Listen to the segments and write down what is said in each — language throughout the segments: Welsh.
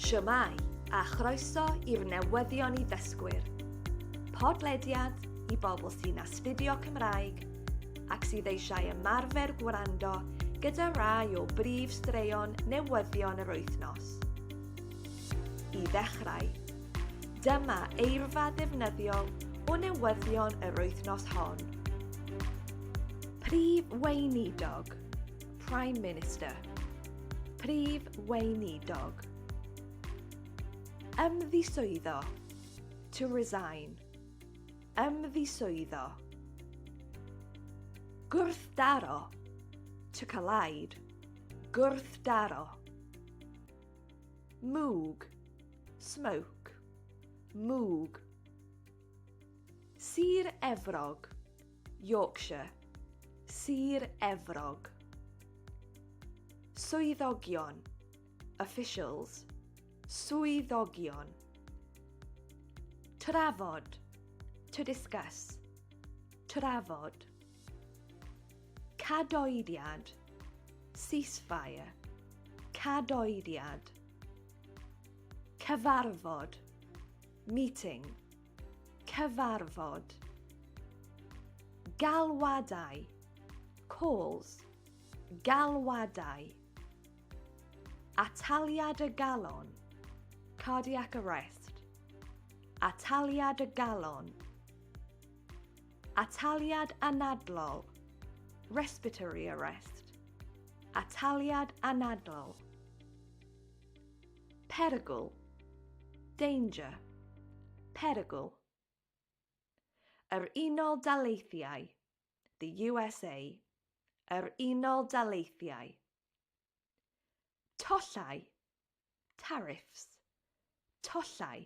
Shwmae, a chroeso i'r newyddion i ddysgwyr. Podlediad i bobl sy'n astudio Cymraeg ac sydd eisiau ymarfer gwrando gyda rai o brif straeon newyddion yr wythnos. I ddechrau, dyma eirfa ddefnyddiol o newyddion yr wythnos hon. Prif Weinidog. Prime Minister, Prif Weinidog. Ymddiswyddo, to resign. Ymddiswyddo. Gwrthdaro, to collide. Gwrthdaro. Mwg, smoke. Mwg. Sir Efrog, Yorkshire, Sir Efrog. Swyddogion, officials, swyddogion. Trafod, to discuss, trafod. Cadoediad, ceasefire, cadoediad. Cyfarfod, Meeting. Cyfarfod. Galwadau. Calls. Galwadau. Ataliad y galon. Cardiac arrest. Ataliad y galon. Ataliad anadlol. Respiratory arrest. Ataliad anadlol. Perygl, danger, perygl. Yr Unol Daleithiau, the USA, yr Unol Daleithiau. Tollau, tariffs, tollau.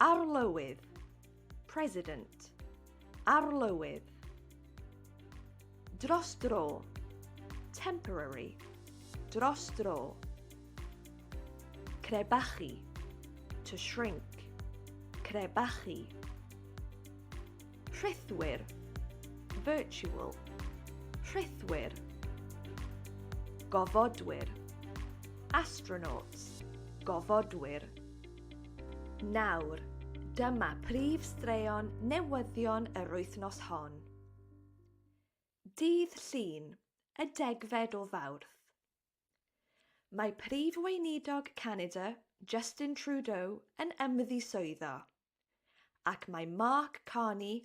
Arlywydd, President, Arlywydd. Dros dro, Temporary, Dros dro. Crebachu, To shrink, Crebachu. Rhithwir, Virtual, Rhithwir. Gofodwyr, Astronauts, Gofodwyr. Nawr, dyma prif straeon newyddion yr wythnos hon. Dydd Llun, y degfed o Fawrth. Mae Prif Weinidog Canada, Justin Trudeau, yn ymddiswyddo, ac mae Mark Carney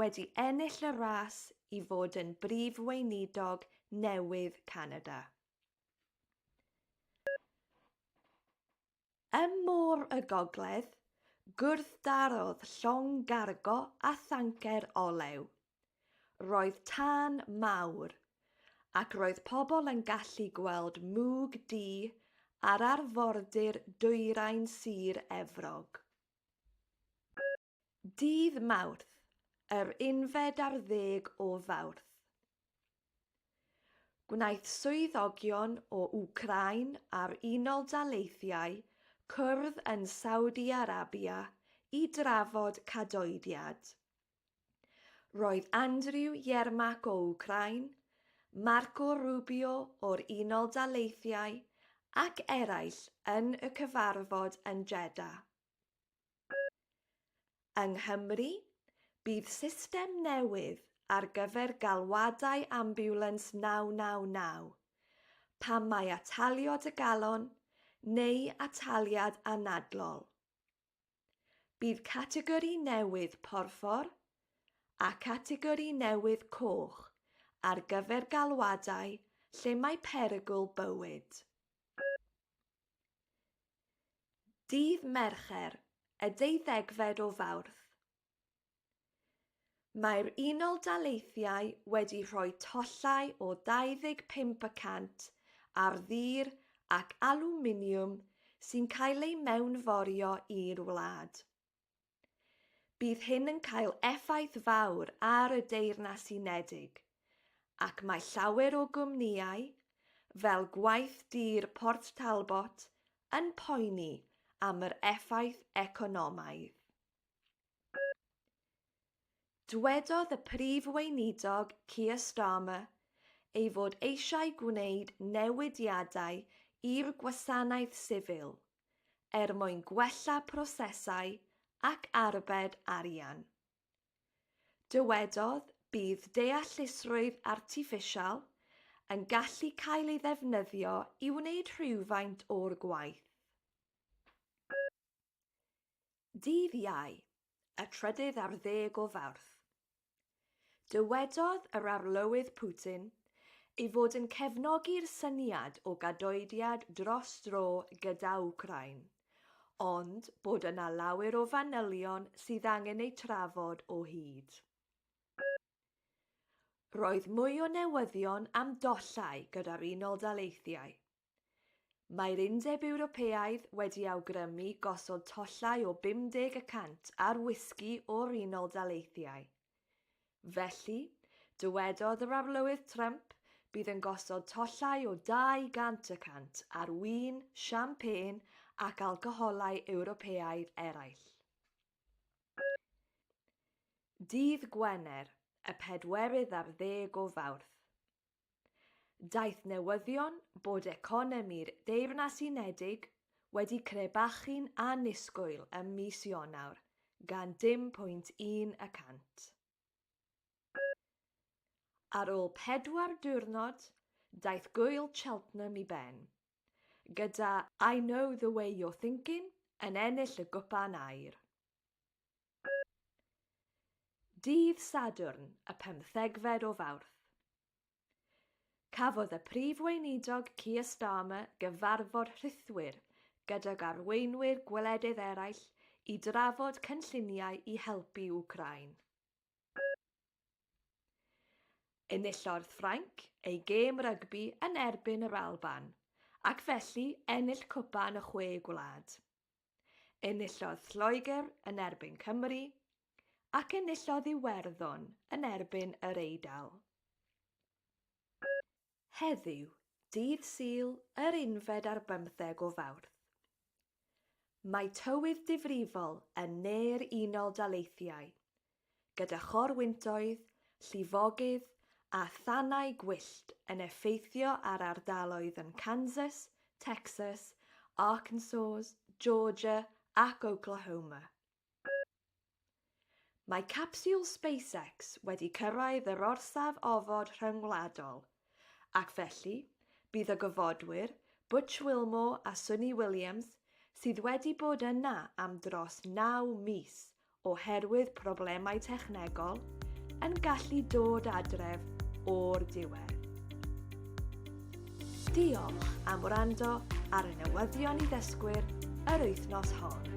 wedi ennill y ras i fod yn Brif Weinidog newydd Canada. Ym Môr y Gogledd, gwrthdarodd llong gargo a thancer olew. Roedd tân mawr, ac roedd pobl yn gallu gweld mwg du ar arfordir dwyrain Sir Efrog. Dydd Mawrth, yr unfed ar ddeg o Fawrth. Gwnaeth swyddogion o Wcráin a'r Unol Daleithiau cwrdd yn Saudi Arabia i drafod cadoediad. Roedd Andrew Yermak o Wcráin, Marco Rubio o'r Unol Daleithiau ac eraill yn y cyfarfod yn Jeddah. Yng Nghymru, bydd system newydd ar gyfer galwadau ambiwlans 999, pan mae atalio dy galon neu ataliad anadlol. Bydd categori newydd porffor a chategori newydd coch ar gyfer galwadau lle mae perygl bywyd. Dydd Mercher, y deuddegfed o Fawrth. Mae'r Unol Daleithiau wedi rhoi tollau o 25 y cant ar ddur ac alwminiwm sy'n cael ei mewnforio i'r wlad. Bydd hyn yn cael effaith fawr ar y Deyrnas Unedig, ac mae llawer o gwmnïau, fel Gwaith Dur Port Talbot, yn poeni am yr effaith economaidd. Dwedodd y Prif Weinidog Keir Starmer ei fod eisiau gwneud newidiadau i'r gwasanaeth sifil er mwyn gwella prosesau ac arbed arian. Dywedodd, Bydd deallusrwydd artiffisial yn gallu cael ei ddefnyddio i wneud rhywfaint o'r gwaith. Dydd Iau, y trydydd ar ddeg o Fawrth, Dywedodd yr Arlywydd Putin ei fod yn cefnogi'r syniad o gadoediad dros dro gyda Wcráin, ond bod yna lawer o fanylion sydd angen eu trafod o hyd. Roedd mwy o newyddion am dollau gyda'r Unol Daleithiau. Mae'r Undeb Ewropeaidd wedi awgrymu gosod tollau o 50 y cant ar wisgi o'r Unol Daleithiau. Felly, dywedodd yr Arlywydd Trump, bydd yn gosod tollau o 200 y cant ar win, siampên ac alcoholau Ewropeaidd eraill. Dydd Gwener, y pedwerydd ar ddeg o Fawrth. Daeth newyddion bod economi'r Deyrnas Unedig wedi crebachu'n annisgwyl ym mis Ionawr gan 0.1 y cant. Ar ôl pedwar diwrnod, daeth Gŵyl Cheltenham i ben, gyda I Know the Way You're Thinking yn ennill y gwpan aur. Dydd Sadwrn, y pymthegfed o Fawrth. Cafodd y Prif Weinidog Keir Starmer gyfarfod rhithwir gydag arweinwyr gwledydd eraill i drafod cynlluniau i helpu Wcráin. Enillodd Ffrainc ei gêm rygbi yn erbyn yr Alban, ac felly ennill cwpan y Chwe Gwlad. Enillodd Lloegr yn erbyn Cymru ac enillodd Iwerddon yn erbyn yr Eidal. Heddiw, dydd Sul, yr unfed ar bymtheg o Fawrth, mae tywydd difrifol yn ne'r Unol Daleithiau, gyda chorwyntoedd, llifogydd a thanau gwyllt yn effeithio ar ardaloedd yn Kansas, Texas, Arkansas, Georgia ac Oklahoma. Mae capsiwl SpaceX wedi cyrraedd yr orsaf ofod rhyngwladol Ac felly, bydd y gofodwyr, Butch Wilmore a Sunny Williams, sydd wedi bod yna am dros naw mis oherwydd problemau technegol, yn gallu dod adref o'r diwedd. Diolch am wrando ar y newyddion i ddysgwyr yr wythnos hon.